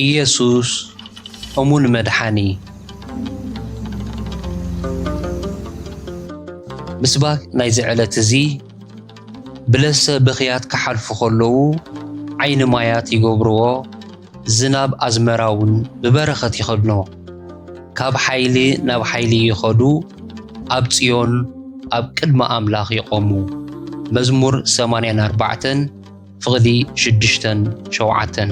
ኢየሱስ እሙን መድሓኒ። ምስባክ ናይዚ ዕለት እዚ ብለሰ ብኽያት ክሓልፉ ከለዉ ዓይኒ ማያት ይገብርዎ ዝናብ ኣዝመራ ውን ብበረኸት ይኸድኖ ካብ ሓይሊ ናብ ሓይሊ ይኸዱ ኣብ ጽዮን ኣብ ቅድሚ ኣምላኽ ይቆሙ መዝሙር ሰማንያን ኣርባዕተን ፍቕዲ ሽዱሽተን ሸውዓተን።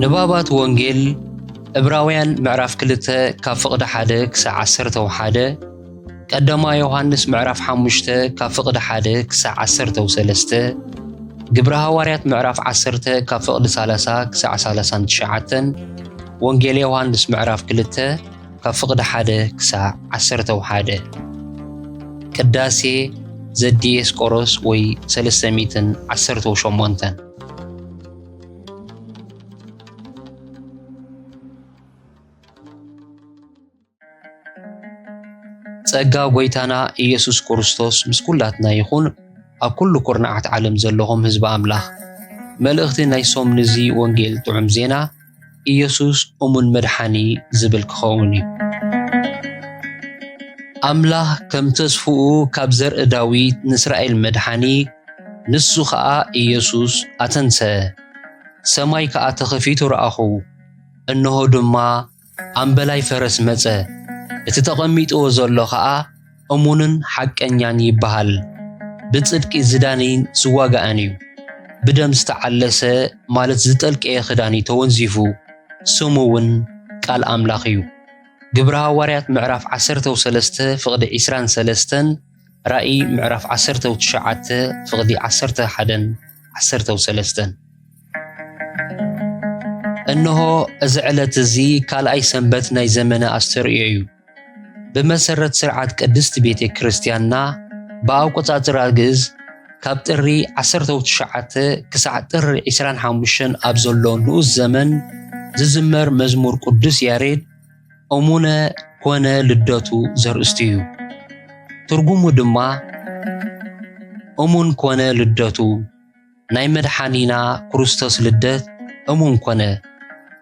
ንባባት ወንጌል እብራውያን ምዕራፍ ክልተ ካብ ፍቕዲ ሓደ ክሳዕ ዓሰርተ ወሓደ ቀደማ ዮሃንስ ምዕራፍ ሓሙሽተ ካብ ፍቕዲ ሓደ ክሳዕ ዓሰርተ ወሰለስተ ግብረ ሃዋርያት ምዕራፍ ዓሰርተ ካብ ፍቕዲ ሳላሳ ክሳዕ ሳላሳን ትሽዓተን ወንጌል ዮሃንስ ምዕራፍ ክልተ ካብ ፍቕዲ ሓደ ክሳዕ ዓሰርተው ሓደ ቅዳሴ ዘዲኤስቆሮስ ወይ ሰለስተ ሚእትን ዓሰርተው ሸሞንተን ጸጋ ጎይታና ኢየሱስ ክርስቶስ ምስ ኩላትና ይኹን። ኣብ ኩሉ ኩርናዓት ዓለም ዘለኹም ህዝቢ ኣምላኽ መልእኽቲ ናይ ሶም ንዚ ወንጌል ጥዑም ዜና ኢየሱስ እሙን መድሓኒ ዝብል ክኸውን እዩ። ኣምላኽ ከም ተስፍኡ ካብ ዘርኢ ዳዊት ንእስራኤል መድሓኒ ንሱ ኸኣ ኢየሱስ ኣተንሰ። ሰማይ ከኣ ተኸፊቱ ረኣኹ፣ እንሆ ድማ ኣምበላይ ፈረስ መጸ፣ እቲ ተቐሚጥዎ ዘሎ ኸኣ እሙንን ሓቀኛን ይበሃል። ብጽድቂ ዝዳነይን ዝዋጋእን እዩ። ብደም ዝተዓለሰ ማለት ዝጠልቀየ ክዳን እዩ ተወንዚፉ፣ ስሙ እውን ቃል ኣምላኽ እዩ። ግብረ ሃዋርያት ምዕራፍ ዓሰርተው ሰለስተ ፍቕዲ ዕስራን ሰለስተን ራእይ ምዕራፍ ዓሰርተው ትሽዓተ ፍቕዲ ዓሰርተ ሓደን ዓሰርተው ሰለስተን እነሆ እዚ ዕለት እዚ ካልኣይ ሰንበት ናይ ዘመነ ኣስተርእዮ እዩ። ብመሰረት ስርዓት ቅድስት ቤተ ክርስቲያንና ብኣቆጻጽራ ግእዝ ካብ ጥሪ 19 ክሳዕ ጥሪ 25 ኣብ ዘሎ ንኡስ ዘመን ዝዝመር መዝሙር ቅዱስ ያሬድ እሙነ ኮነ ልደቱ ዘርእስቱ እዩ። ትርጉሙ ድማ እሙን ኮነ ልደቱ ናይ መድሓኒና ክርስቶስ ልደት እሙን ኮነ፣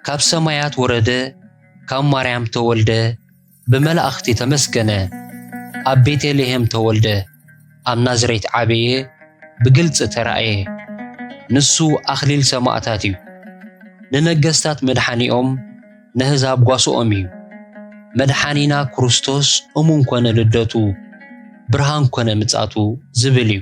ካብ ሰማያት ወረደ፣ ካብ ማርያም ተወልደ፣ ብመላእኽቲ ተመስገነ፣ ኣብ ቤተልሔም ተወልደ፣ ኣብ ናዝሬት ዓበየ፣ ብግልፂ ተራእየ። ንሱ ኣኽሊል ሰማእታት እዩ። ንነገስታት መድሓኒኦም፣ ነህዛብ ጓሶኦም እዩ። መድሓኒና ክርስቶስ እሙን ኮነ ልደቱ፣ ብርሃን ኮነ ምጻቱ ዝብል እዩ።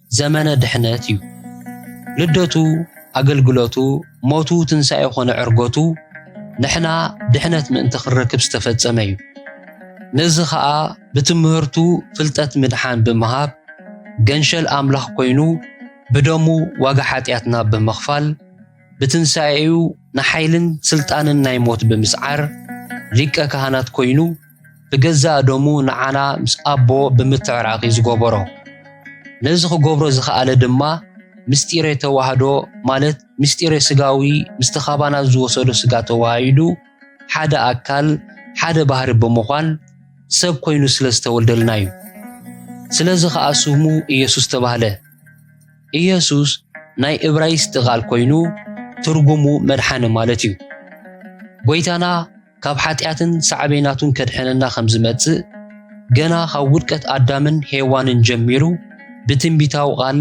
ዘመነ ድሕነት እዩ። ልደቱ፣ ኣገልግሎቱ፣ ሞቱ፣ ትንሣኤ ኮነ ዕርጎቱ ንሕና ድሕነት ምእንቲ ክንረክብ ዝተፈጸመ እዩ። ነዚ ኸኣ ብትምህርቱ ፍልጠት ምድሓን ብምሃብ ገንሸል ኣምላኽ ኮይኑ ብደሙ ዋጋ ሓጢኣትና ብምኽፋል ብትንሣኤኡ ንሓይልን ሥልጣንን ናይ ሞት ብምስዓር ሊቀ ካህናት ኮይኑ ብገዛእ ደሙ ንዓና ምስ ኣቦ ብምትዕራቕ እዩ ዝገበሮ። ነዚ ክገብሮ ዝኸኣለ ድማ ምስጢረ ተዋህዶ ማለት ምስጢረ ስጋዊ ምስቲ ካባና ዝወሰዶ ስጋ ተዋሃሂዱ ሓደ ኣካል ሓደ ባህሪ ብምዃን ሰብ ኮይኑ ስለ ዝተወልደልና እዩ። ስለዚ ኸኣ ስሙ ኢየሱስ ተባህለ። ኢየሱስ ናይ እብራይስጢ ቃል ኮይኑ ትርጉሙ መድሓኒ ማለት እዩ። ጐይታና ካብ ሓጢኣትን ሳዕቤናቱን ከድሕነና ከም ዝመጽእ ገና ካብ ውድቀት ኣዳምን ሄዋንን ጀሚሩ ብትንቢታዊ ቓል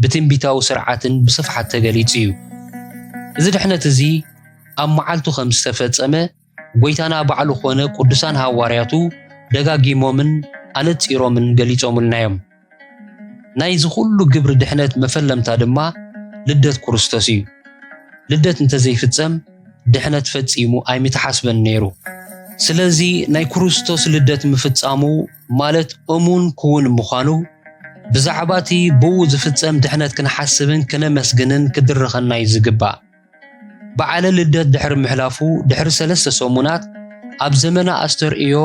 ብትንቢታዊ ስርዓትን ብስፍሓት ተገሊጹ እዩ። እዚ ድሕነት እዚ ኣብ መዓልቱ ከም ዝተፈጸመ ጐይታና ባዕሉ ኮነ ቅዱሳን ሃዋርያቱ ደጋጊሞምን ኣነጺሮምን ገሊጾምልና እዮም። ናይዚ ኩሉ ግብሪ ድሕነት መፈለምታ ድማ ልደት ኩርስቶስ እዩ። ልደት እንተዘይፍጸም ድሕነት ፈጺሙ ኣይምተሓስበን ነይሩ። ስለዚ ናይ ኩርስቶስ ልደት ምፍጻሙ ማለት እሙን ክዉን ምዃኑ ብዛዕባ እቲ ብኡ ዝፍጸም ድሕነት ክንሓስብን ክነመስግንን ክድርኸና እዩ ዝግባእ። በዓለ ልደት ድሕሪ ምሕላፉ ድሕሪ ሰለስተ ሰሙናት ኣብ ዘመነ ኣስተርእዮ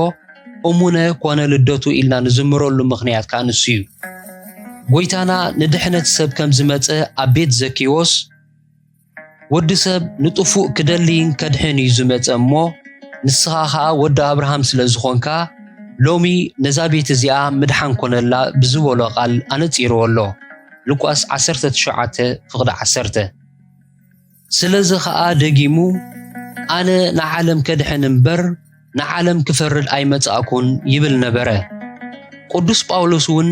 እሙነ ኮነ ልደቱ ኢልና ንዝምረሉ ምኽንያት ከዓ ንሱ እዩ። ጎይታና ንድሕነት ሰብ ከም ዝመጸ ኣብ ቤት ዘኪዎስ ወዲ ሰብ ንጥፉእ ክደልይን ከድሕን እዩ ዝመጸ እሞ ንስኻ ኸኣ ወዲ ኣብርሃም ስለ ዝኾንካ ሎሚ ነዛ ቤት እዚኣ ምድሓን ኮነላ ብዝበሎ ቃል ኣነጺርዎ ኣሎ። ሉቃስ 19 ፍቕዲ 10 ስለዚ ኸኣ ደጊሙ ኣነ ንዓለም ከድሕን እምበር ንዓለም ክፈርድ ኣይመጻእኩን ይብል ነበረ። ቅዱስ ጳውሎስ እውን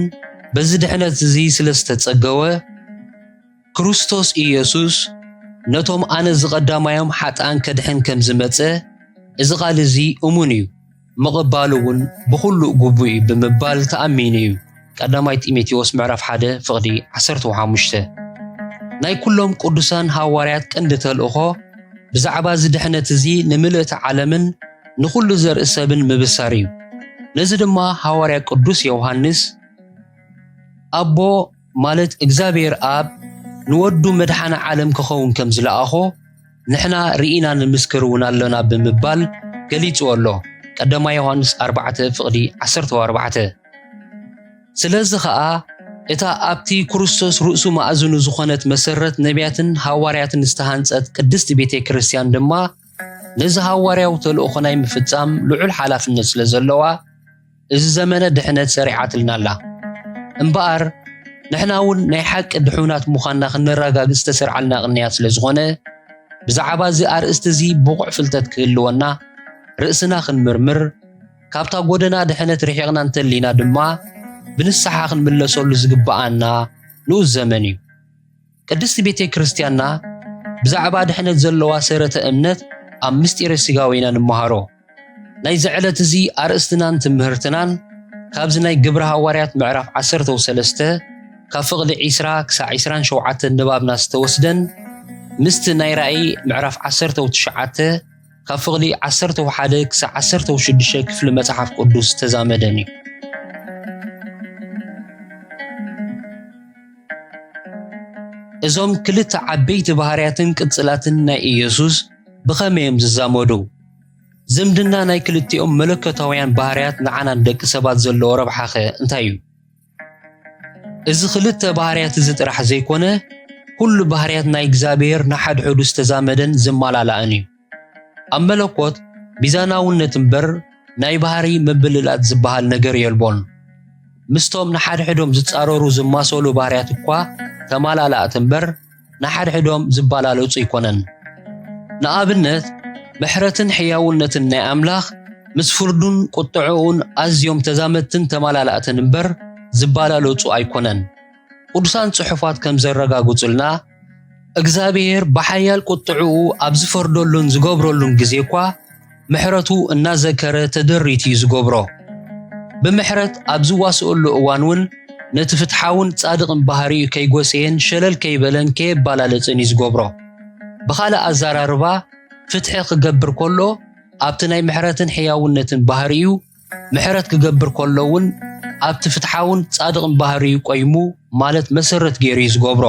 በዚ ድሕነት እዚ ስለ ዝተጸገወ ክርስቶስ ኢየሱስ ነቶም ኣነ ዝቐዳማዮም ሓጥኣን ከድሕን ከም ዝመጸ እዚ ቃል እዚ እሙን እዩ። ምቕባሉ እውን ብኹሉ ግቡእ እዩ ብምባል ተኣሚኑ እዩ። ቀዳማይ ጢሞቴዎስ ምዕራፍ ሓደ ፍቕዲ ዓሰርተው ሓሙሽተ ናይ ኩሎም ቅዱሳን ሃዋርያት ቀንዲ ተልእኾ ብዛዕባ እዚ ድሕነት እዚ ንምልእቲ ዓለምን ንኹሉ ዘርኢ ሰብን ምብሳር እዩ። ነዚ ድማ ሃዋርያ ቅዱስ ዮውሃንስ ኣቦ ማለት እግዚኣብሔር ኣብ ንወዱ መድሓኒ ዓለም ክኸውን ከም ዝለኣኾ ንሕና ርኢና ንምስክር እውን ኣሎና ብምባል ገሊጽዎ ኣሎ ቀዳማይ ዮሃንስ ኣርባዕተ ፍቕዲ ዓሰርተ ኣርባዕተ ስለዚ ኸኣ እታ ኣብቲ ክርስቶስ ርእሱ ማእዝኑ ዝኾነት መሰረት ነቢያትን ሃዋርያትን ዝተሃንጸት ቅድስቲ ቤተ ክርስቲያን ድማ ነዚ ሃዋርያዊ ተልእኾ ናይ ምፍጻም ልዑል ሓላፍነት ስለ ዘለዋ እዚ ዘመነ ድሕነት ሰሪዓትልና ኣላ። እምበኣር ንሕና እውን ናይ ሓቂ ድሑናት ምዃንና ክነረጋግጽ ዝተሰርዓልና ቅንያት ስለ ዝኾነ ብዛዕባ እዚ ኣርእስቲ እዚ ብቑዕ ፍልጠት ክህልወና ርእስና ክንምርምር ካብታ ጎደና ድሕነት ርሒቕና እንተሊና ድማ ብንስሓ ክንምለሰሉ ዝግብኣና ንኡስ ዘመን እዩ። ቅድስት ቤተ ክርስቲያንና ብዛዕባ ድሕነት ዘለዋ ሰረተ እምነት ኣብ ምስጢረ ሥጋዌ ኢና ንመሃሮ። ናይዚ ዕለት እዚ ኣርእስትናን ትምህርትናን ካብዚ ናይ ግብረ ሃዋርያት ምዕራፍ ዓሰርተ ወሰለስተ ካብ ፍቕሊ ዒስራ ክሳዕ ዒስራን ሸውዓተን ንባብና ዝተወስደን ምስቲ ናይ ራእይ ምዕራፍ ዓሰርተ ወትሽዓተ ካብ ፍቕዲ ዓሰርተ ወሓደ ክሳዕ ዓሰርተ ወሽዱሽተ ክፍሊ መጽሓፍ ቅዱስ ዝተዛመደን እዩ። እዞም ክልተ ዓበይቲ ባህርያትን ቅጽላትን ናይ ኢየሱስ ብኸመይ እዮም ዝዛመዱ? ዝምድና ናይ ክልቲኦም መለኮታውያን ባህርያት ንዓና ንደቂ ሰባት ዘለዎ ረብሓኸ እንታይ እዩ? እዚ ክልተ ባህርያት እዚ ጥራሕ ዘይኮነ ኩሉ ባህርያት ናይ እግዚኣብሔር ንሓድሕዱ ዝተዛመደን ዝመላላእን እዩ። ኣብ መለኮት ሚዛናውነት እምበር ናይ ባህሪ ምብልላጥ ዝበሃል ነገር የልቦን። ምስቶም ንሓድሕዶም ዝጻረሩ ዝማሰሉ ባህርያት እኳ ተመላላእቲ እምበር ንሓድሕዶም ዝበላለጹ ኣይኮነን። ንኣብነት ምሕረትን ሕያውነትን ናይ ኣምላኽ ምስ ፍርዱን ቁጥዐኡን ኣዝዮም ተዛመድትን ተማላላእትን እምበር ዝበላለጹ ኣይኮነን። ቅዱሳን ጽሑፋት ከም ዘረጋግጹልና እግዝኣብሄር ብሓያል ቁጥዐኡ ኣብ ዝፈርደሉን ዝገብረሉን ግዜ እኳ ምሕረቱ እናዘከረ ተደሪት እዩ ዝገብሮ። ብምሕረት ኣብ ዝዋስኦሉ እዋን እውን ነቲ ፍትሓውን ጻድቕን ባህሪኡ ከይጎሰየን ሸለል ከይበለን ከየባላለጽን እዩ ዝገብሮ። ብኻልእ ኣዘራርባ ፍትሒ ክገብር ከሎ ኣብቲ ናይ ምሕረትን ሕያውነትን ባህሪኡ፣ ምሕረት ክገብር ከሎ እውን ኣብቲ ፍትሓውን ጻድቕን ባህሪኡ ቆይሙ ማለት መሰረት ገይሩ እዩ ዝገብሮ።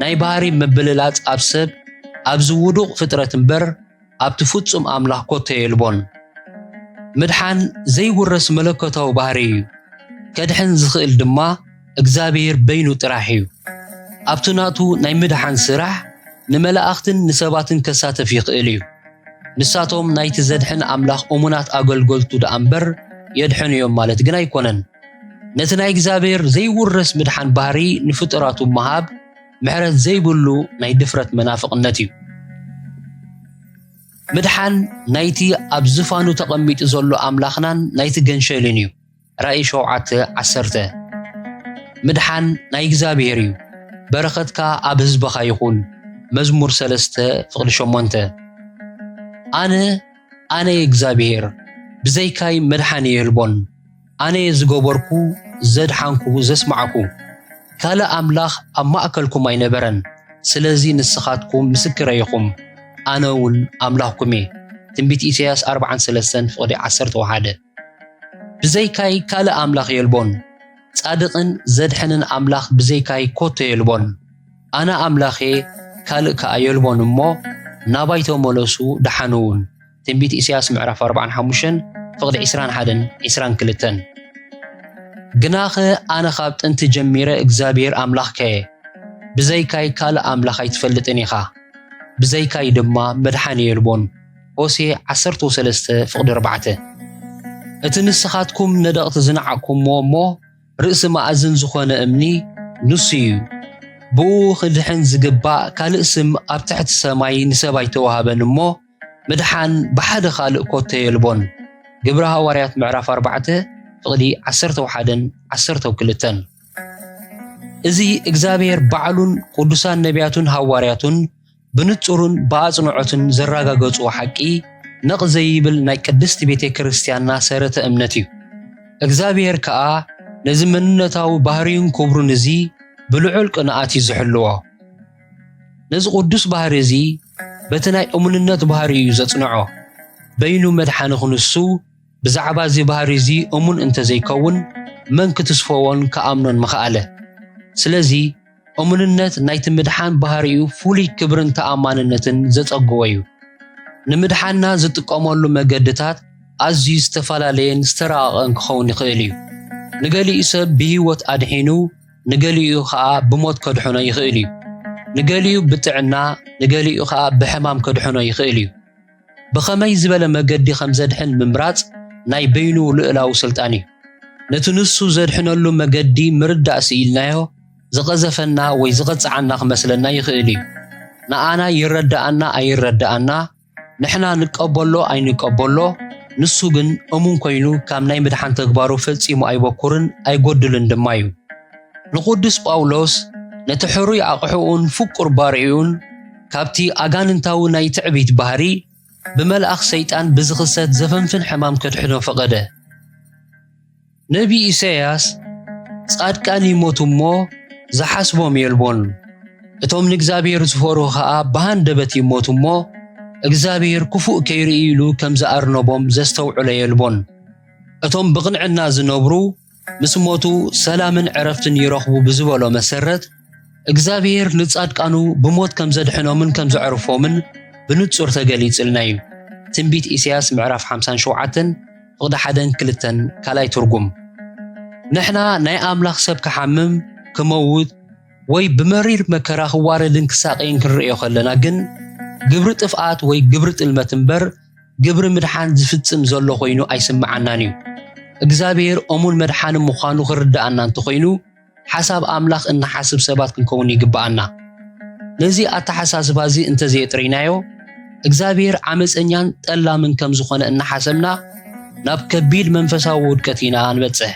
ናይ ባህሪ ምብልላጽ ኣብ ሰብ፣ ኣብዚ ውዱቕ ፍጥረት እምበር፣ ኣብቲ ፍጹም ኣምላኽ ኮቶ የልቦን። ምድሓን ዘይውረስ መለኮታዊ ባህሪ እዩ፣ ከድሕን ዝኽእል ድማ እግዝኣብሄር በይኑ ጥራሕ እዩ። ኣብቲ ናቱ ናይ ምድሓን ስራሕ ንመላእኽትን ንሰባትን ከሳተፍ ይኽእል እዩ። ንሳቶም ናይቲ ዘድሕን ኣምላኽ እሙናት ኣገልገልቱ ደኣ እምበር የድሕኑ እዮም ማለት ግን ኣይኮነን። ነቲ ናይ እግዚኣብሄር ዘይውረስ ምድሓን ባህሪ ንፍጡራቱ ምሃብ፣ ምሕረት ዘይብሉ ናይ ድፍረት መናፍቕነት እዩ። ምድሓን ናይቲ ኣብ ዝፋኑ ተቐሚጡ ዘሎ ኣምላኽናን ናይቲ ገንሸልን እዩ። ራእይ ሸውዓተ ዓሰርተ ምድሓን ናይ እግዚኣብሔር እዩ። በረኸትካ ኣብ ህዝብኻ ይኹን። መዝሙር ሰለስተ ፍቕዲ ሸሞንተ ኣነ ኣነ እግዚኣብሔር ብዘይካይ መድሓን የልቦን። ኣነ ዝገበርኩ ዘድሓንኩ ዘስማዕኩ ካልእ ኣምላኽ ኣብ ማእከልኩም ኣይነበረን፣ ስለዚ ንስኻትኩም ምስክረይ ኢኹም፣ ኣነ እውን ኣምላኽኩም እየ። ትንቢት ኢሳይያስ ኣርብዓን ሰለስተን ፍቕዲ ዓሰርተ ወሓደ ብዘይካይ ካልእ ኣምላኽ የልቦን፣ ጻድቕን ዘድሕንን ኣምላኽ ብዘይካይ ኮቶ የልቦን፣ ኣነ ኣምላኽ እየ ካልእ ከኣ የልቦን እሞ ናባይ ተመለሱ ድሓኑ እውን። ትንቢት ኢሳያስ ምዕራፍ ኣርብዓን ሓሙሽተን ፍቕዲ ዕስራን ሓደን ዕስራን ክልተን ግናኸ ኣነ ኻብ ጥንቲ ጀሚረ እግዚኣብሄር ኣምላኽካ እየ፣ ብዘይካይ ካልእ ኣምላኽ ኣይትፈልጥን ኢኻ፣ ብዘይካይ ድማ መድሓኒ የልቦን። ሆሴዕ ዓሰርተው ሰለስተ ፍቕዲ ኣርባዕተ እቲ ንስኻትኩም ነደቕቲ ዝነዓቕኩምዎ እሞ ርእሲ መኣዝን ዝኾነ እምኒ ንሱ እዩ። ብእኡ ኽድሕን ዝግባእ ካልእ ስም ኣብ ትሕቲ ሰማይ ንሰብ ኣይተዋህበን እሞ፣ ምድሓን ብሓደ ካልእ ኮቶ የልቦን ግብሪ ሃዋርያት ምዕራፍ ኣርባዕተ ፍቕዲ ዓሰርተው ሓደን ዓሰርተው ክልተን እዚ እግዚኣብሔር ባዕሉን ቅዱሳን ነቢያቱን ሃዋርያቱን ብንጹርን ብኣጽንዖትን ዘረጋገጹዎ ሓቂ ነቕ ዘይብል ናይ ቅድስቲ ቤተ ክርስቲያንና ሰረተ እምነት እዩ። እግዚኣብሔር ከኣ ነዚ መንነታዊ ባህርዩን ክብሩን እዚ ብልዑል ቅንኣት እዩ ዝሕልዎ። ነዚ ቅዱስ ባህሪ እዚ በቲ ናይ እሙንነት ባህሪ እዩ ዘጽንዖ። በይኑ መድሓኒ ክንሱ ብዛዕባ እዚ ባህሪ እዚ እሙን እንተ ዘይከውን መን ክትስፎዎን ክኣምኖን ምኸኣለ? ስለዚ እሙንነት ናይቲ ምድሓን ባህሪኡ ፍሉይ ክብርን ተኣማንነትን ዘጸግዎ እዩ። ንምድሓንና ዝጥቀመሉ መገድታት ኣዝዩ ዝተፈላለየን ዝተራቐቐን ክኸውን ይኽእል እዩ። ንገሊኡ ሰብ ብህይወት ኣድሒኑ፣ ንገሊኡ ኸኣ ብሞት ከድሕኖ ይኽእል እዩ። ንገሊኡ ብጥዕና፣ ንገሊኡ ኸኣ ብሕማም ከድሕኖ ይኽእል እዩ። ብኸመይ ዝበለ መገዲ ከም ዘድሕን ምምራጽ ናይ በይኑ ልኡላዊ ስልጣን እዩ። ነቲ ንሱ ዘድሕነሉ መገዲ ምርዳእ ስኢልናዮ ዝቐዘፈና ወይ ዝቐጽዓና ክመስለና ይኽእል እዩ። ንኣና ይረድኣና ኣይረድኣና፣ ንሕና ንቀበሎ ኣይንቀበሎ ንሱ ግን እሙን ኮይኑ ካብ ናይ ምድሓን ተግባሩ ፈጺሙ ኣይበኩርን ኣይጎድልን ድማ እዩ። ንቁዱስ ጳውሎስ ነቲ ሕሩይ ኣቕሕኡን ፍቁር ባርዕኡን ካብቲ ኣጋንንታዊ ናይ ትዕቢት ባህሪ ብመልኣኽ ሰይጣን ብዝኽሰት ዘፈንፍን ሕማም ከድሕኖ ፈቐደ። ነቢይ ኢሳይያስ ጻድቃን ይሞቱ እሞ ዝሓስቦም የልቦን፣ እቶም ንእግዚኣብሔር ዝፈርሁ ኸኣ ብሃንደበት ይሞቱ እሞ እግዚኣብሔር ክፉእ ከይርኢ ኢሉ ከም ዝኣርነቦም ዘስተውዕሎ የልቦን። እቶም ብቕንዕና ዝነብሩ ምስ ሞቱ ሰላምን ዕረፍትን ይረኽቡ ብዝበሎ መሰረት፣ እግዚኣብሔር ንጻድቃኑ ብሞት ከም ዘድሕኖምን ከም ዘዕርፎምን ብንጹር ተገሊጽልና እዩ። ትንቢት ኢሳያስ ምዕራፍ 57 ፍቕዲ ሓደን ክልተን ካልኣይ ትርጉም ንሕና ናይ ኣምላኽ ሰብ ክሓምም ክመውት ወይ ብመሪር መከራ ክዋረድን ክሳቀይን ክንርእዮ ከለና ግን ግብሪ ጥፍኣት ወይ ግብሪ ጥልመት እምበር ግብሪ ምድሓን ዝፍጽም ዘሎ ኮይኑ ኣይስምዓናን እዩ። እግዚኣብሔር እሙን መድሓኒ ምዃኑ ክርድኣና እንተኾይኑ ሓሳብ ኣምላኽ እንሓስብ ሰባት ክንከውን ይግብኣና። ነዚ ኣተሓሳስባ እዚ እንተ ዘየጥሪናዮ፣ እግዚኣብሔር ዓመጸኛን ጠላምን ከም ዝኾነ እናሓሰብና ናብ ከቢድ መንፈሳዊ ውድቀት ኢና ንበጽሕ።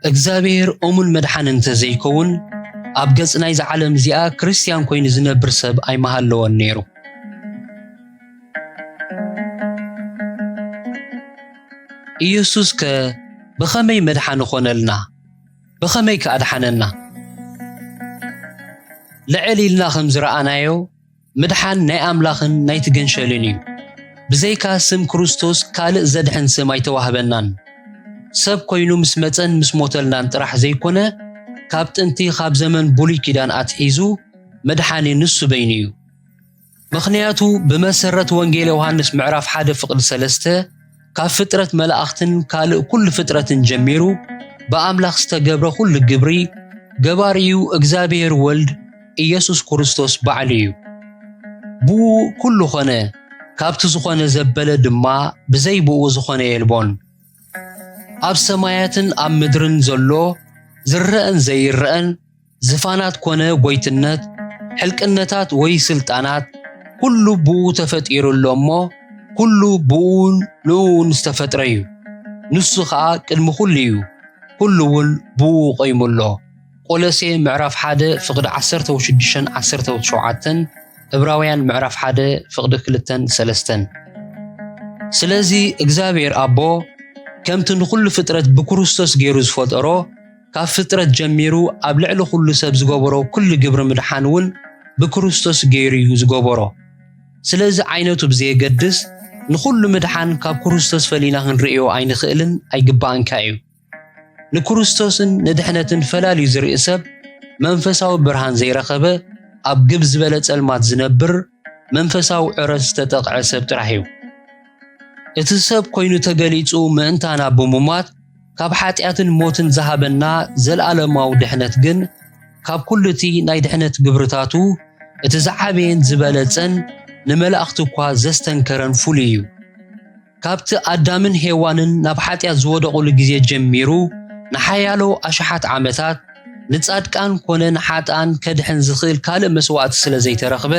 እግዚኣብሔር እሙን መድሓኒ እንተ ዘይከውን፣ ኣብ ገጽ ናይዛ ዓለም እዚኣ ክርስትያን ኮይኑ ዝነብር ሰብ ኣይምሃለወን ነይሩ። ኢየሱስከ ብኸመይ መድሓኒ ኾነልና? ብኸመይ ከ ኣድሓነና? ልዕል ኢልና ከም ዝረኣናዮ ምድሓን ናይ ኣምላኽን ናይቲ ገንሸልን እዩ። ብዘይካ ስም ክርስቶስ ካልእ ዘድሕን ስም ኣይተዋህበናን። ሰብ ኮይኑ ምስ መጸን ምስ ሞተልናን ጥራሕ ዘይኮነ ካብ ጥንቲ ካብ ዘመን ብሉይ ኪዳን ኣትሒዙ መድሓኒ ንሱ በይኑ እዩ። ምኽንያቱ ብመሰረት ወንጌል ዮሃንስ ምዕራፍ ሓደ ፍቕዲ ሰለስተ ካብ ፍጥረት መላእኽትን ካልእ ኩሉ ፍጥረትን ጀሚሩ ብኣምላኽ ዝተገብረ ኩሉ ግብሪ ገባሪኡ እግዚኣብሔር ወልድ ኢየሱስ ክርስቶስ ባዕሉ እዩ። ብኡ ኩሉ ኮነ፣ ካብቲ ዝኾነ ዘበለ ድማ ብዘይ ብኡ ዝኾነ የልቦን። ኣብ ሰማያትን ኣብ ምድርን ዘሎ ዝረኣን ዘይረኣን ዝፋናት ኮነ ጎይትነት፣ ሕልቅነታት ወይ ስልጣናት ኩሉ ብኡ ተፈጢሩ ኣሎ እሞ ኩሉ ብኡን ንእኡን ዝተፈጥረ እዩ። ንሱ ኸኣ ቅድሚ ኩሉ እዩ፣ ኩሉ እውን ብኡ ቆይሙ ኣሎ። ቆሎሴ ምዕራፍ 1 ፍቕዲ 16ን 17ን እብራውያን ምዕራፍ 1 ፍቕዲ 2ን 3ን ስለዚ እግዚኣብሔር ኣቦ ከምቲ ንኹሉ ፍጥረት ብክርስቶስ ገይሩ ዝፈጠሮ ካብ ፍጥረት ጀሚሩ ኣብ ልዕሊ ኩሉ ሰብ ዝገበሮ ኩሉ ግብሪ ምድሓን እውን ብክርስቶስ ገይሩ እዩ ዝገበሮ። ስለዚ ዓይነቱ ብዘየገድስ ንኹሉ ምድሓን ካብ ክርስቶስ ፈሊና ክንርእዮ ኣይንኽእልን ኣይግባእንካ እዩ። ንክርስቶስን ንድሕነትን ፈላልዩ ዝርኢ ሰብ መንፈሳዊ ብርሃን ዘይረኸበ ኣብ ግብ ዝበለ ጸልማት ዝነብር መንፈሳዊ ዕረት ዝተጠቕዐ ሰብ ጥራሕ እዩ። እቲ ሰብ ኮይኑ ተገሊጹ ምእንታና ብምሟት ካብ ሓጢኣትን ሞትን ዝሃበና ዘልኣለማዊ ድሕነት ግን ካብ ኩሉ እቲ ናይ ድሕነት ግብርታቱ እቲ ዝዓበየን ዝበለጸን ንመላእኽቲ እኳ ዘስተንከረን ፍሉይ እዩ። ካብቲ ኣዳምን ሄዋንን ናብ ሓጢኣት ዝወደቑሉ ግዜ ጀሚሩ ንሓያሎ ኣሽሓት ዓመታት ንጻድቃን ኮነ ንሓጥኣን ከድሕን ዝኽእል ካልእ መስዋእቲ ስለ ዘይተረኽበ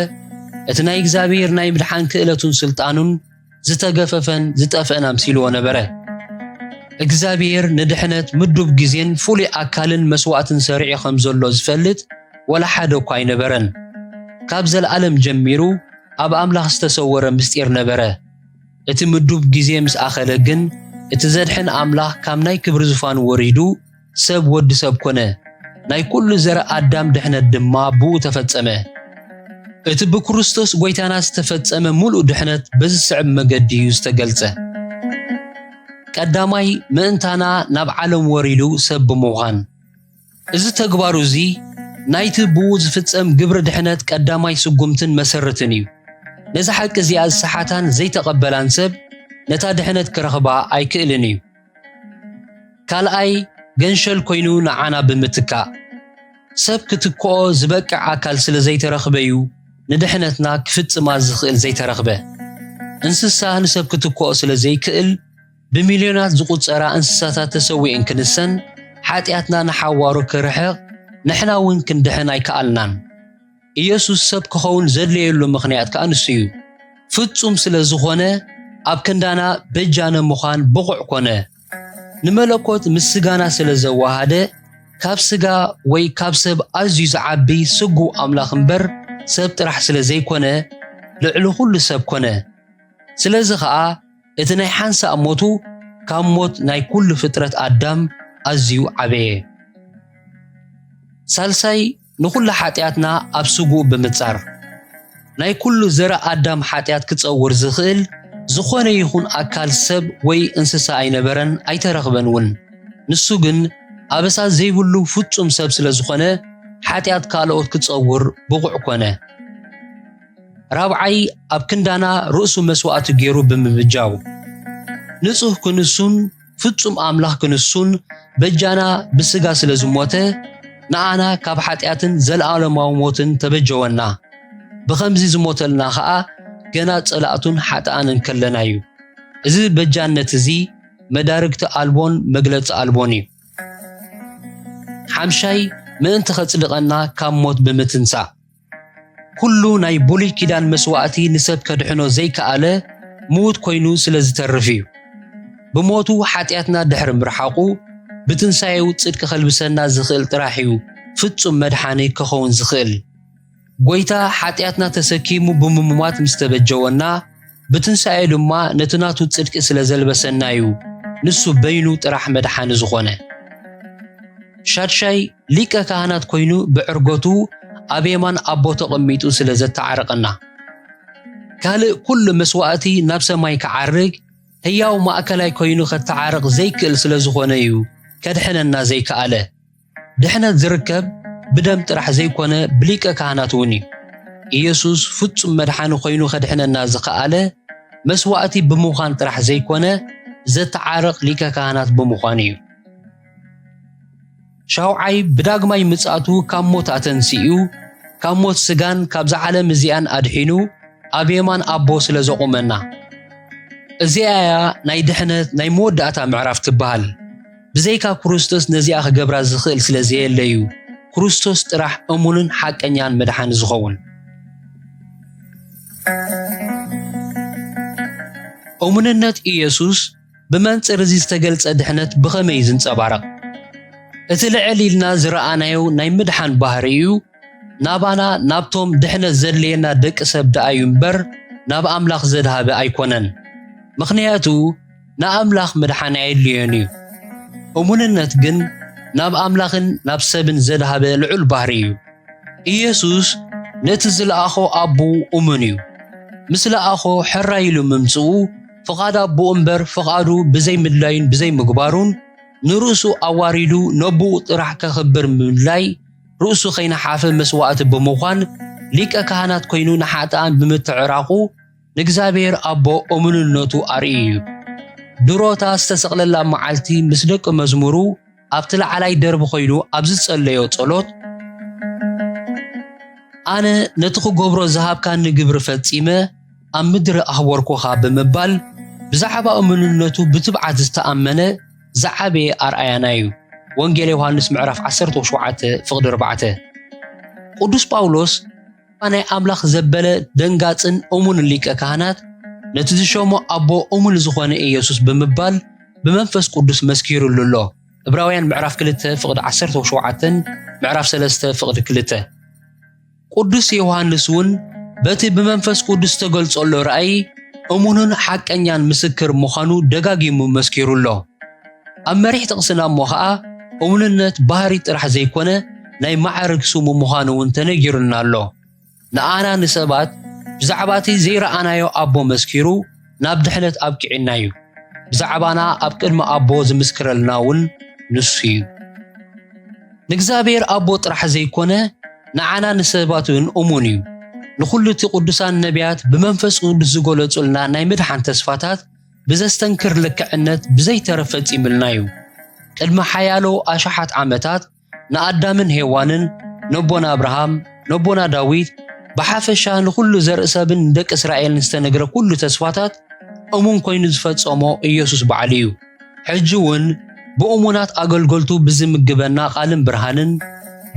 እቲ ናይ እግዚኣብሔር ናይ ምድሓን ክእለቱን ስልጣኑን ዝተገፈፈን ዝጠፍእን ኣምሲልዎ ነበረ። እግዚኣብሔር ንድሕነት ምዱብ ግዜን ፍሉይ ኣካልን መስዋእትን ሰሪዑ ከም ዘሎ ዝፈልጥ ወላ ሓደ እኳ ኣይነበረን። ካብ ዘለኣለም ጀሚሩ ኣብ ኣምላኽ ዝተሰወረ ምስጢር ነበረ። እቲ ምዱብ ግዜ ምስ ኣኸለ ግን እቲ ዘድሕን ኣምላኽ ካብ ናይ ክብሪ ዝፋኑ ወሪዱ ሰብ ወዲ ሰብ ኮነ፣ ናይ ኩሉ ዘር ኣዳም ድሕነት ድማ ብኡ ተፈጸመ። እቲ ብክርስቶስ ጎይታና ዝተፈጸመ ምሉእ ድሕነት በዝስዕብ መገዲ እዩ ዝተገልጸ። ቀዳማይ ምእንታና ናብ ዓለም ወሪዱ ሰብ ብምዃን። እዚ ተግባሩ እዚ ናይቲ ብኡ ዝፍጸም ግብሪ ድሕነት ቀዳማይ ስጉምትን መሰርትን እዩ። ነዛ ሓቂ እዚኣ ዝሰሓታን ዘይተቐበላን ሰብ ነታ ድሕነት ክረኽባ ኣይክእልን እዩ። ካልኣይ ገንሸል ኮይኑ ንዓና ብምትካእ ሰብ ክትክኦ ዝበቅዕ ኣካል ስለ ዘይተረኽበ'ዩ ንድሕነትና ክፍጽማ ዝኽእል ዘይተረኽበ። እንስሳ ንሰብ ክትክኦ ስለ ዘይክእል ብሚልዮናት ዝቑጸራ እንስሳታት ተሰዊኤን ክንሰን ሓጢኣትና ንሓዋሩ ክርሕቕ ንሕና'ውን ክንድሕን ኣይከኣልናን። ኢየሱስ ሰብ ክኸውን ዘድለየሉ ምኽንያት ከኣ ንሱ እዩ። ፍጹም ስለ ዝኾነ ኣብ ክንዳና በጃነ ምዃን ብቑዕ ኮነ። ንመለኮት ምስ ስጋና ስለ ዘወሃደ ካብ ስጋ ወይ ካብ ሰብ ኣዝዩ ዝዓቢ ስጉው ኣምላኽ እምበር ሰብ ጥራሕ ስለ ዘይኮነ ልዕሊ ኩሉ ሰብ ኮነ። ስለዚ ከኣ እቲ ናይ ሓንሳእ ሞቱ ካብ ሞት ናይ ኩሉ ፍጥረት ኣዳም ኣዝዩ ዓበየ። ሳልሳይ ንኹሉ ሓጢኣትና ኣብ ስጉኡ ብምጻር ናይ ኩሉ ዘረ ኣዳም ሓጢኣት ክጸውር ዝኽእል ዝኾነ ይኹን ኣካል ሰብ ወይ እንስሳ ኣይነበረን ኣይተረኽበን እውን ንሱ ግን ኣበሳ ዘይብሉ ፍጹም ሰብ ስለ ዝኾነ ሓጢኣት ካልኦት ክጸውር ብቑዕ ኮነ ራብዓይ ኣብ ክንዳና ርእሱ መስዋእቲ ገይሩ ብምብጃው ንጹህ ክንሱን ፍጹም ኣምላኽ ክንሱን በጃና ብስጋ ስለ ዝሞተ ንኣና ካብ ሓጢኣትን ዘለኣለማዊ ሞትን ተበጀወና። ብኸምዚ ዝሞተልና ኸኣ ገና ጸላእቱን ሓጥኣን እንከለና እዩ። እዚ በጃነት እዚ መዳርግቲ ኣልቦን መግለጺ ኣልቦን እዩ። ሓምሻይ ምእንቲ ኸጽድቐና ካብ ሞት ብምትንሳእ ኩሉ ናይ ብሉይ ኪዳን መስዋእቲ ንሰብ ከድሕኖ ዘይከኣለ ምዉት ኮይኑ ስለ ዝተርፍ እዩ። ብሞቱ ሓጢኣትና ድሕሪ ምርሓቑ ብትንሳኤኡ ጽድቂ ከልብሰና ዝኽእል ጥራሕ እዩ ፍጹም መድሓኒ ከኸውን ዝኽእል። ጎይታ ሓጢኣትና ተሰኪሙ ብምሙማት ምስ ተበጀወና ብትንሳኤኡ ድማ ነቲ ናቱ ጽድቂ ስለ ዘልበሰና እዩ ንሱ በይኑ ጥራሕ መድሓኒ ዝኾነ። ሻድሻይ ሊቀ ካህናት ኮይኑ ብዕርገቱ ኣብ የማን ኣቦ ተቐሚጡ ስለ ዘተዓረቐና ካልእ ኩሉ መስዋእቲ ናብ ሰማይ ክዓርግ ህያው ማእከላይ ኮይኑ ከተዓርቕ ዘይክእል ስለ ዝኾነ እዩ ከድሕነና ዘይከኣለ። ድሕነት ዝርከብ ብደም ጥራሕ ዘይኮነ ብሊቀ ካህናት እውን እዩ። ኢየሱስ ፍጹም መድሓኒ ኮይኑ ከድሕነና ዝኸኣለ መስዋእቲ ብምዃን ጥራሕ ዘይኮነ ዘተዓርቕ ሊቀ ካህናት ብምዃን እዩ። ሻውዓይ ብዳግማይ ምጽኣቱ ካብ ሞት ኣተንሲኡ ካብ ሞት ስጋን ካብዛ ዓለም እዚኣን ኣድሒኑ ኣብ የማን ኣቦ ስለ ዘቑመና እዚኣ እያ ናይ ድሕነት ናይ መወዳእታ ምዕራፍ ትበሃል ብዘይካ ክርስቶስ ነዚኣ ክገብራ ዝኽእል ስለ ዘየለ እዩ ክርስቶስ ጥራሕ እሙንን ሓቀኛን መድሓኒ ዝኸውን እሙንነት ኢየሱስ ብመንጽር እዚ ዝተገልጸ ድሕነት ብኸመይ እዩ ዝንጸባረቕ? እቲ ልዕል ኢልና ዝረኣናዮ ናይ ምድሓን ባህሪ እዩ ናባና ናብቶም ድሕነት ዘድለየና ደቂ ሰብ ደኣ እዩ እምበር ናብ ኣምላኽ ዘድሃበ ኣይኮነን። ምኽንያቱ ንኣምላኽ ምድሓን ኣየድልዮን እዩ። እሙንነት ግን ናብ ኣምላኽን ናብ ሰብን ዘድሃበ ልዑል ባህሪ እዩ። ኢየሱስ ነቲ ዝለኣኾ ኣቦኡ እሙን እዩ። ምስ ለኣኾ ሕራይ ኢሉ ምምጽኡ ፍቓድ ኣቦኡ እምበር ፍቓዱ ብዘይ ምድላዩን ብዘይ ምግባሩን ንርእሱ ኣዋሪዱ ነቦኡ ጥራሕ ከኽብር ምድላይ ርእሱ ከይነሓፈ መስዋእቲ ብምዃን ሊቀ ካህናት ኮይኑ ንሓጥኣን ብምትዕራቑ ንእግዚኣብሔር ኣቦ እሙንነቱ ኣርእዩ እዩ። ድሮታ ዝተሰቕለላ መዓልቲ ምስ ደቂ መዝሙሩ ኣብቲ ላዕላይ ደርቢ ኮይኑ ኣብ ዝጸለዮ ጸሎት ኣነ ነቲ ክገብሮ ዝሃብካኒ ግብሪ ፈጺመ ኣብ ምድሪ ኣህወርኩኻ ብምባል ብዛዕባ እምንነቱ ብትብዓት ዝተኣመነ ዝዓበየ ኣርኣያና እዩ። ወንጌል ዮሃንስ ምዕራፍ 17 ፍቕዲ 4 ቅዱስ ጳውሎስ እታ ናይ ኣምላኽ ዘበለ ደንጋጽን እሙንን ሊቀ ካህናት ነቲ ዝሸሞ ኣቦ እሙን ዝኾነ ኢየሱስ ብምባል ብመንፈስ ቅዱስ መስኪሩሉ ኣሎ ዕብራውያን ምዕራፍ 2 ፍቕዲ 17 ምዕራፍ 3 ፍቕዲ 2 ቅዱስ ዮሐንስ እውን በቲ ብመንፈስ ቅዱስ ዝተገልጸሎ ራእይ እሙንን ሓቀኛን ምስክር ምዃኑ ደጋጊሙ መስኪሩ ኣሎ ኣብ መሪሕ ጥቕስና እሞ ኸኣ እሙንነት ባህሪ ጥራሕ ዘይኮነ ናይ መዓርግ ስሙ ምዃኑ እውን ተነጊሩና ኣሎ። ንኣና ንሰባት ብዛዕባ እቲ ዘይረኣናዮ ኣቦ መስኪሩ ናብ ድሕነት ኣብቂዑና እዩ። ብዛዕባና ኣብ ቅድሚ ኣቦ ዝምስክረልና እውን ንሱ እዩ። ንእግዚኣብሔር ኣቦ ጥራሕ ዘይኮነ ንዓና ንሰባት እውን እሙን እዩ። ንኹሉ እቲ ቅዱሳን ነቢያት ብመንፈስ ቅዱስ ዝገለጹልና ናይ ምድሓን ተስፋታት ብዘስተንክር ልክዕነት ብዘይተረ ፈጺምልና እዩ። ቅድሚ ሓያሎ ኣሽሓት ዓመታት ንኣዳምን ሄዋንን፣ ነቦና ኣብርሃም፣ ነቦና ዳዊት፣ ብሓፈሻ ንዅሉ ዘርኢ ሰብን ንደቂ እስራኤልን ዝተነግረ ኵሉ ተስፋታት እሙን ኰይኑ ዝፈጸሞ ኢየሱስ ባዕሉ እዩ። ሕጂ እውን ብእሙናት ኣገልገልቱ ብዚምግበና ቓልን ብርሃንን፣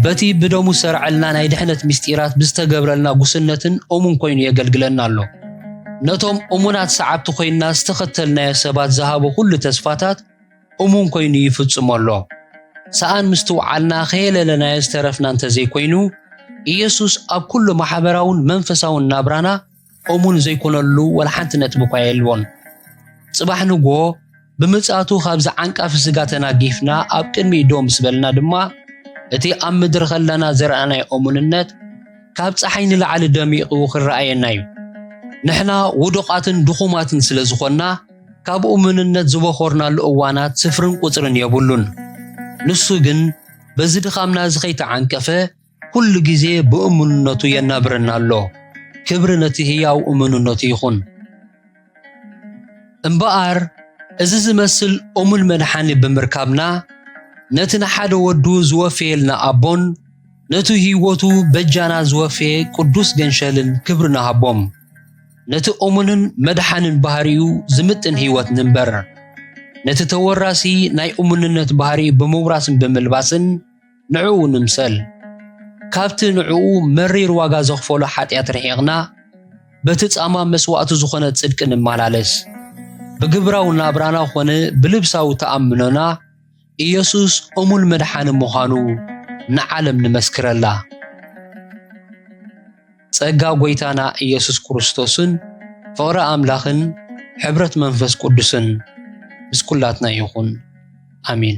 በቲ ብደሙ ዝሠርዐልና ናይ ድኅነት ምሥጢራት ብዝተገብረልና ጉስነትን እሙን ኮይኑ የገልግለና ኣሎ። ነቶም እሙናት ሰዓብቲ ኮይንና ዝተኸተልናዮ ሰባት ዝሃቦ ኹሉ ተስፋታት እሙን ኮይኑ ይፍጽሞ ኣሎ። ሰኣን ምስትውዓልና ከየለለናዮ ዝተረፍና እንተዘይኮይኑ፣ ኢየሱስ ኣብ ኩሉ ማኅበራውን መንፈሳውን ናብራና እሙን ዘይኮነሉ ወላ ሓንቲ ነጥቢ እኳ የልቦን። ጽባሕ ንግሆ ብምጽኣቱ ካብዚ ዓንቃፊ ስጋ ተናጊፍና ኣብ ቅድሚኡ ደው ምስ በልና ድማ እቲ ኣብ ምድሪ ከለና ዘርኣናዮ እሙንነት ካብ ጸሓይ ንላዕሊ ደሚቑ ክረኣየና እዩ። ንሕና ውዱቓትን ድኹማትን ስለ ዝኾንና ካብ እሙንነት ዝበኾርናሉ እዋናት ስፍርን ቁጽርን የብሉን። ንሱ ግን በዚ ድኻምና እዚ ከይተዓንቀፈ ኩሉ ግዜ ብእሙንነቱ የናብረና ኣሎ። ክብሪ ነቲ ህያው እሙንነቱ ይኹን። እምበኣር እዚ ዝመስል እሙን መድሓኒ ብምርካብና ነቲ ንሓደ ወዱ ዝወፈየልና ኣቦን ነቲ ህይወቱ በጃና ዝወፈየ ቅዱስ ገንሸልን ክብሪ ንሃቦም። ነቲ እሙንን መድሓንን ባህሪኡ ዝምጥን ህይወት ንንበር። ነቲ ተወራሲ ናይ እሙንነት ባህሪ ብምውራስን ብምልባስን ንዕኡ ንምሰል። ካብቲ ንዕኡ መሪር ዋጋ ዘኽፈሎ ሓጢኣት ርሒቕና በቲ ጻማ መስዋእቱ ዝኾነ ጽድቂ ንመላለስ። ብግብራዊ ናብራና ኾነ ብልብሳዊ ተኣምኖና ኢየሱስ እሙን መድሓኒ ምዃኑ ንዓለም ንመስክረላ። ጸጋ ጐይታና ኢየሱስ ክርስቶስን ፍቕሪ ኣምላኽን ሕብረት መንፈስ ቅዱስን ምስ ኵላትና ይኹን። ኣሜን።